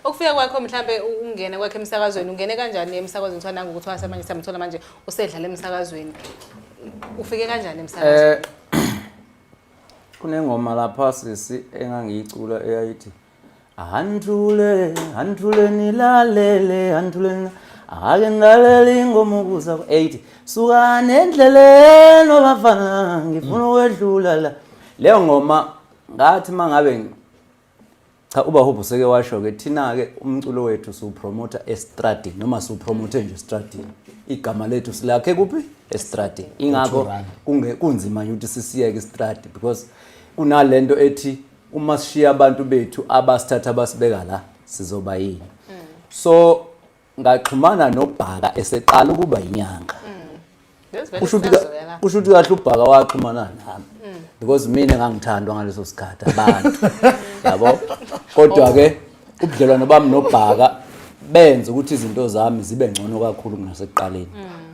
ukufika kwakho mhlambe ungene kwakhe emsakazweni ungene kanjani emsakazweni kuthiwa nangu ukuthi wasemanje samthola manje usedlala emsakazweni ufike kanjani emsakazweni eh kunengoma lapha sisi engangiyicula eyayithi handlule handlule nilalele handlule ake ngilalele ingoma ukuza ku-eight suka nendleleni obafana ngifuna ukwedlula la leyo ngoma ngathi uma ngabe Cha ubahope useke washo ke thina ke umculo wethu siwupromoter estradini noma siwupromote nje estradini. Igama lethu silakhe kuphi? Estradini. Ingakho kunge kunzima ukuthi sisiyeke estradi because kunalento ethi uma sishiya abantu bethu abasithatha basibeka la sizoba yini. So ngaxhumana nobhaka eseqala ukuba inyanga mm. kusho ukuthi kahle ubhaka waxhumana nami mm. because mina ngangithandwa ngaleso sikhathi abantu yabo kodwa-ke oh. ubudlelwano bami nobhaka benze ukuthi izinto zami zibe ngcono kakhulu kunasekuqaleni mm.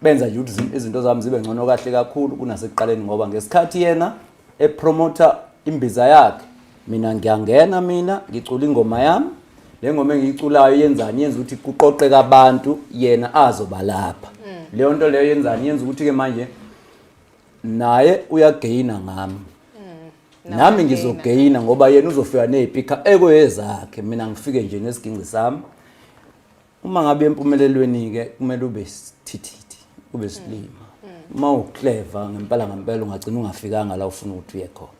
benza izinto zami zibe ngcono kahle kakhulu kunasekuqaleni ngoba ngesikhathi yena epromota imbiza yakhe mina ngiyangena mina ngicula ingoma yami le ngoma engiyiculayo yenzani yenza ukuthi kuqoqeka abantu yena azoba lapha mm. leyo nto leyo yenzani yenza ukuthi-ke manje naye uyageyina ngami mm. nami ngizogeyina ngoba yena uzofika ney'pikha ekoyezakhe mina ngifike nje nesiginci sami uma ngabe empumelelweni-ke kumele ube sithithithi ube silima mm. uma ukleva ngempela ngempela ungagcina ungafikanga la ufuna ukuthi uye khona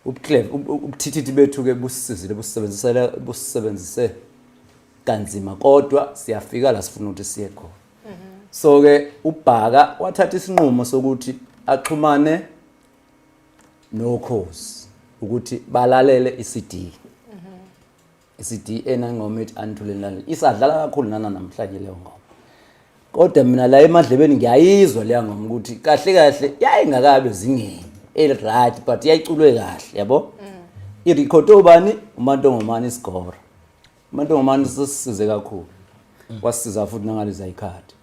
mm-hmm. ubuthithithi bethu-ke busisizile busisebenzisele busisebenzise kanzima kodwa siyafika la sifuna ukuthi siye khona mm-hmm. so-ke ubhaka wathatha isinqumo sokuthi axhumane nokhozi ukuthi balalele iCD isiDA nengoma ethi anithulenani isadlala kakhulu nana namhlanje leyo ngoma kodwa mina la emadlebeni ngiyayizwa leya ngoma ukuthi kahle kahle yayingakabe zingeni eliright but yayiculwe kahle yabo irekhodi obani umantongomane isigora umantongomane sisisize kakhulu wasisiza futhi nangaliza ikhadi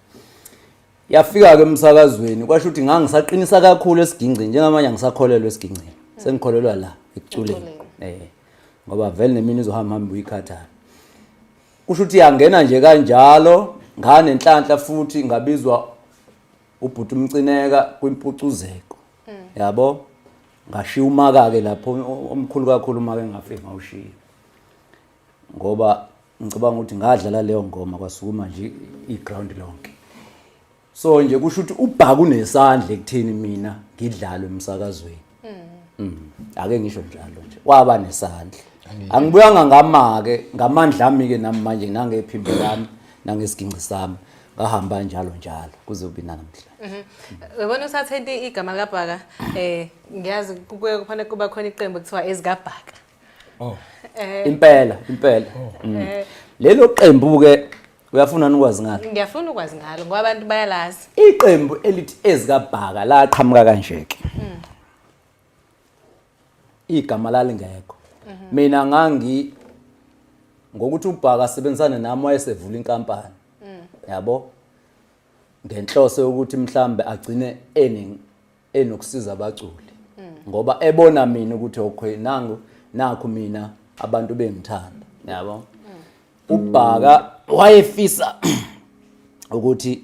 yafika-ke emsakazweni kwasho ukuthi ngangisaqinisa kakhulu esigingcini njengamanje angisakholelwa esigingcini sengikholelwa la ekuculeni um ngoba vele nemini izohamba hamba uyikhathala kusho ukuthi yangena nje kanjalo ngane nhlanhla futhi ngabizwa ubhuti umcineka kwimpucuzeko mm. yabo ngashiya umaka ke lapho omkhulu kakhulu uma ke ngafike ngawushiya ngoba ngicabanga ukuthi ngadlala leyo ngoma kwasukuma nje i-ground lonke so nje kusho ukuthi ubhaka unesandla ekutheni mina ngidlalwe emsakazweni mm. ake ngisho njalo nje waba nesandla angibuyanga ngamake ngamandla ami ke nami manje nangephimbo lami nangesigingci sami ngahamba njalo njalo kuze kube namhla mhm. uyabona usathente igama likabhaka um ngiyazi kubuye kufanele kuba khona iqembu kuthiwa ezikabhaka Oh. Eh. Impela, impela. Oh. Mm. Eh. Lelo qembu ke uyafuna ukwazi ngalo. Ngiyafuna ukwazi ngalo ngoba abantu bayalazi. Iqembu elithi ezikabhaka la qhamuka kanje ke. Mm. Igama lalingekho. Mhm. Mina ngangi ngokuthi ubhaka asebenzisane nami wayesevula inkampani. Mm. Yabo? Ngenhloso yokuthi mhlambe agcine ening enokusiza abaculi ngoba ebona mina ukuthi okay nangu nakho mina abantu bengithanda yabo ubhaka wayefisa ukuthi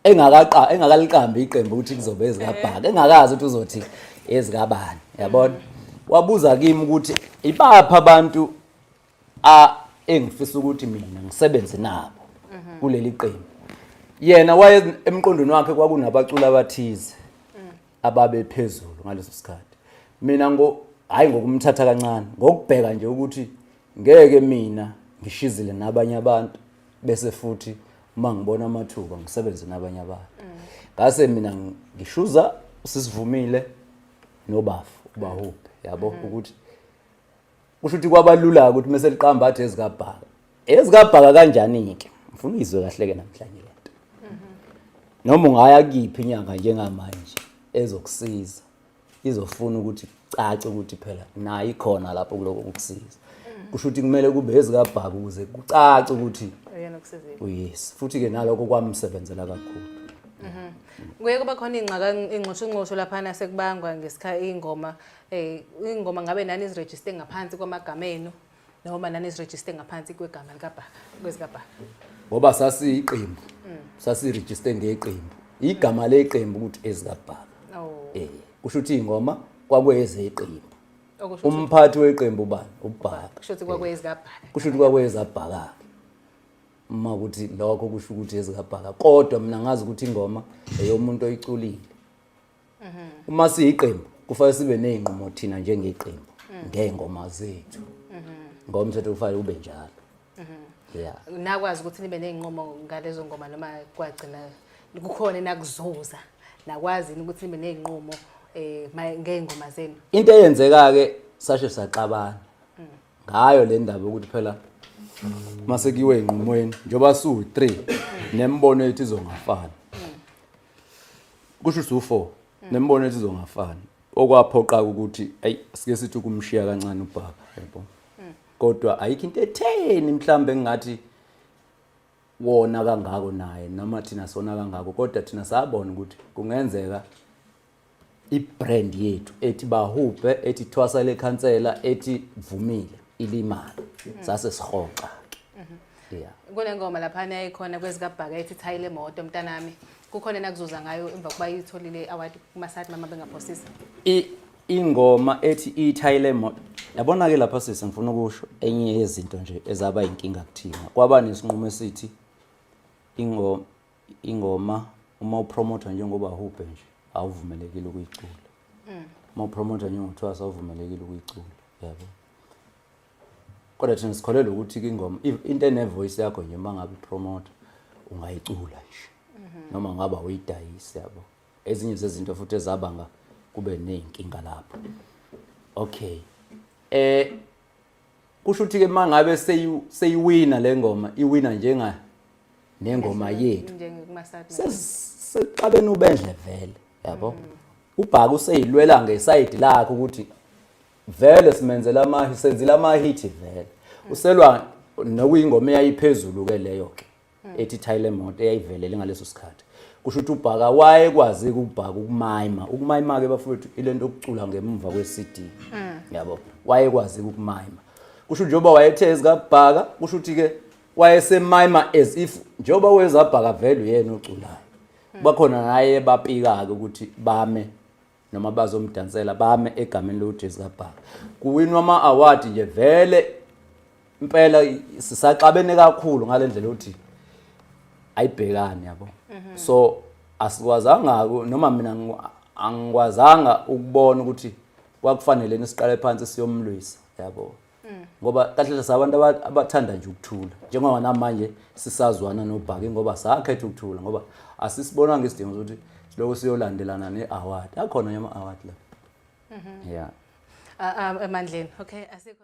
engakaqa engakaliqambi iqembu ukuthi kuzobe ezikabhaka engakazi ukuthi uzothi ezikabani yabona wabuza kimi ukuthi ibapha abantu a engifisa ukuthi mina ngisebenze nabo kuleli qembu yena waye emqondweni wakhe kwakunabaculi abathize ababe phezulu ngaleso sikhathi mina ngo hayi ngokumthatha kancane ngokubheka nje ukuthi ngeke mina ngishizile nabanye abantu bese futhi uma ngibona amathuba ngisebenze nabanye abantu ngase mina ngishuza sisivumile nobafu ubahuphe yabo ukuthi kusho ukuthi kwabalula ukuthi mase liqamba athi ezikabhaka ezikabhaka kanjani ke ngifuna izwe kahle ke namhlanje lento noma ungaya kiphi inyanga njengamanje ezokusiza izofuna ukuthi cace ukuthi phela nayi ikhona lapho kuloko ukusiza kusho ukuthi kumele kube ezikabhaka ukuze kucace ukuthi uyena okusizile uyisi futhi ke naloko kwamsebenzela kakhulu kuye kuba khona ingxaka ingxoshongxosho laphana sekubangwa ngesikhathi ingoma Eh ingoma ngabe nani izirejiste ngaphansi kwamagama enu noma nani izirejiste ngaphansi kwegama likabhaka kwezikabhaka. Ngoba sasiyiqembu. Mm. Sasirejiste ngeqembu. Igama leqembu ukuthi ezikabhaka. Oh. Eh kusho ukuthi ingoma kwakuyezeqembu. Umphathi weqembu bani? Ubhaka. Kusho ukuthi kwakuyezeqembu. Eh. Kusho ukuthi kwakuyezeqembu. uma ukuthi lokho kusho ukuthi ezikabhaka kodwa mina ngazi ukuthi ingoma eyomuntu oyiculile uma siyiqembu kufanele sibe nezinqumo thina njengeqembu ngengoma zethu ngomthetho kufanele ube njalo yeah nakwazi ukuthi nibe nezinqumo ngalezo ngoma noma kwagcina kukhona enakuzuza nakwazi ukuthi nibe nezinqumo eh ngeengoma zenu into eyenzeka ke sashe saxabana ngayo le ndaba ukuthi phela mase kiwe inqumweni njoba su 3 nembono yethu izongafana kusho ukuthi u4 hmm. nemibono ethi izongafani okwaphoqa ukuthi ayi sike sithi ukumshiya kancane ubhaka yebo hmm. kodwa ayikho into etheni mhlambe engathi wona kangako naye noma thina sona kangako kodwa thina sabona ukuthi kungenzeka ibrand yethu ethi bahubhe ethi thwasa lekhansela ethi vumile ilimali mhm. sase sihoxa mhm. yeah kunengoma lapha naye khona kwezikabhaka ethi thayi lemoto mntanami kukhona nakuzuza ngayo emva kuba yitholile award kuma side mama bengaphosisa ingoma ethi ithayi lemoto yabona ke lapha sisi ngifuna ukusho enye yezinto nje ezaba inkinga kuthina kwaba nesinqumo esithi ingoma ingoma uma upromotha njengoba hubhe nje awuvumelekile ukuyicula mm. uma upromotha njengothwasa awuvumelekile ukuyicula yabo kodwa thina sikholelwa ukuthi ingoma into enevoice yakho nje uma ngabe ipromotha ungayicula nje mm-hmm. noma ngaba uyidayisi yabo ezinye zezinto futhi ezabanga kube ney'nkinga lapho okay eh kusho ukuthi ke mangabe seyiwina lengoma iwina njenga nengoma yethu sesixabene ubendle vele yabo mm. ubhaka useyilwela ngesayidi lakhe ukuthi vele simenzela ama senzile ama hit vele mm. uselwa nokuyingoma eyayiphezulu ke leyo ke hmm. ethi thayile moto eyayivelele ngaleso sikhathi kusho ukuthi ubhaka wayekwazi ukubhaka ukumayima ukumayima ke bafowethu ilento okucula ngemva kwe-CD hmm. yabo wayekwazi ukumayima kusho njengoba wayethe ezikabhaka kusho ukuthi ke wayesemayima as if njengoba wezabhaka vele uyena oculayo hmm. bakhona naye bapika-ke ukuthi bame noma bazomdansela bame egameni loJesu kaBhaka kuwinwa ama award nje vele impela sisaxabene kakhulu ngalendlela ukuthi ayibhekani yabo mhm. so asikwazanga noma mina angikwazanga ukubona ukuthi kwakufanele nisiqale phansi siyomlwisa yabo mm. ngoba kahle kahle sabantu abathanda nje ukuthula njengoba namanje sisazwana nobhaki ngoba sakhetha ukuthula ngoba asisibonanga isidingo sokuthi siloko siyolandelana ne-award akhona yama-award la mhm. ya amandleni okay asikho